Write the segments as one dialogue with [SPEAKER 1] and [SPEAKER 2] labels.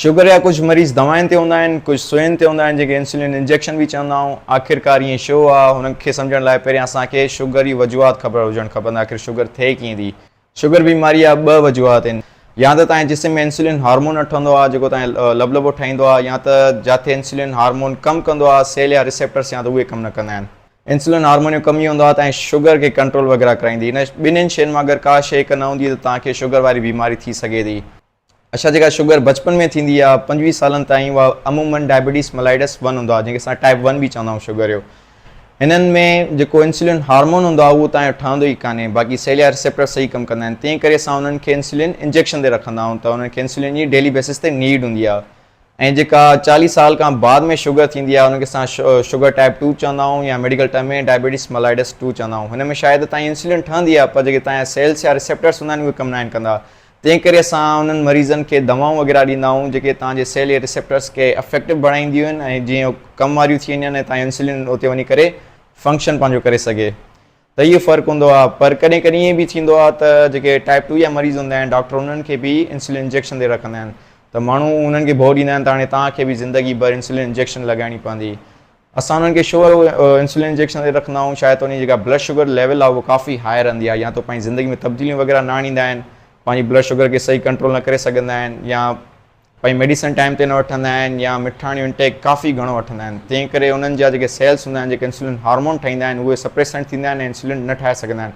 [SPEAKER 1] Sugar جا ڪجهه مريض دوائن تي هوندا آهن، ڪجهه سوئين تي هوندا آهن جيڪي انسولين انجيڪشن به چوندا آهون. آخرڪار ائين شو آ؟ هن کي سمجهڻ لاء پهريان اسان کي شگر جي وجوهات خبر هجڻ کپن ته آخر شگر ٿئي ڪيئن ٿي. شگر بيماري جا ٻه وجوهات آهن. يا ته توهان جي جسم ۾ انسولين هارمون نه ٺهندو آ جيڪو توهان کي لبلبو ٺاهيندو آ يا ته جاٿي انسولين هارمون ڪم ڪندو آ سيل يا ريسيپٽرس يا ته اهي ڪم نه ڪندا آهن. انسولين هارمون جو ڪم اهو هوندو آ توهان جي شگر کي ڪنٽرول وغيره ڪرائيندي. هن ٻنهين شين مان اگر ڪا شي هڪ نه هوندي ته توهان کي شگر واري بيماري ٿي سگهي ٿي. اڇا جيڪا شگر بچپن ۾ ٿيندي آهي پنجويهه سالن تائين اها عمومن ڊائبيٽيز ملائيڊس ون هوندو آهي جنهن کي اسان ٽائپ ون به چوندا آهيون شگر جو هنن ۾ جيڪو انسولين هارمون هوندو آهي اهو تان ٺهندو ئي ڪانهي باقي سيليا ريسيپٽر صحيح ڪم ڪندا آهن تنهن ڪري اسان انهن کي انسولين انجيڪشن تي رکندا آهيون ته انهن کي انسولين جي ڊيلي بيسس تي نيڊ هوندي آهي ۽ جيڪا چاليهه سال کان بعد ۾ شگر ٿيندي آهي انهن کي اسان شگر ٽائپ ٽو چوندا آهيون يا medical term ۾ diabetes mellitus two چوندا آهيون هن ۾ شايد تائين انسولين ٺهندي آهي پر جيڪي تان سيلس يا ريسيپٽرس هوندا آهن اهي ڪم ناهن ڪندا تنهن ڪري اسان انهن مريضن کي دوائون وغيره ڏيندا آهيون جيڪي توهان جي سيل يا ريسيپٽرز کي افيڪٽو بڻائينديون آهن ۽ جيئن هو ڪم واريون ٿي وڃن ۽ توهان جو انسولين اتي وڃي ڪري فنڪشن پنهنجو ڪري سگهي ته اهو فرق هوندو آهي پر ڪڏهن ڪڏهن ائين به ٿيندو آهي ته جيڪي ٽائيپ ٽو جا مريض هوندا آهن ڊاڪٽر انهن کي به انسولين انجيڪشن ڏئي رکندا آهن ته ماڻهو انهن کي ڀؤ ڏيندا آهن ته هاڻي توهان کي به زندگي ڀر انسولين انجيڪشن لڳائڻي پوندي اسان انهن کي شوگر انسولين انجيڪشن تي رکندا آهيون شايد ته انهن جي جيڪا بلڊ شوگر ليول آهي اهو ڪافي هاء رهندي آهي يا ته پنهنجي زندگي ۾ تبديليون وغيره نه آڻيندا آهن پنهنجي بلڊ شوگر کي صحيح ڪنٽرول نه ڪري سگهندا آهن يا پنهنجي ميڊيسن ٽائيم تي نه وٺندا آهن يا مٺاڻيون انٽيڪ ڪافي گهڻو وٺندا آهن تنهن ڪري انهن جا جيڪي سيلس هوندا آهن جيڪي انسولين هارمون ٺاهيندا آهن اهي سپريسنٽ ٿيندا آهن ۽ انسولين نه ٺاهي سگهندا آهن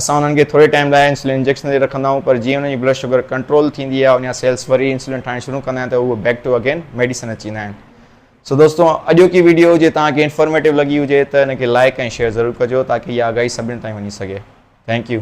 [SPEAKER 1] اسان انهن کي ٿوري ٽائيم لاء انسولين انجيڪشن تي رکندا آهيون پر جيئن انهن جي بلڊ شوگر ڪنٽرول ٿيندي آهي انهن جا سيلس وري انسولين ٺاهڻ شروع ڪندا آهن ته اهي بيڪ ٽو اگين ميڊيسن اچي ويندا آهن سو دوستو اڄوڪي ويڊيو جي توهان کي انفارميٽو لڳي هجي ته ان کي لائيڪ ۽ شيئر ضرور ڪجو تاڪي اها آگاهي سڀني تائين وڃي سگهي ٿينڪ يو.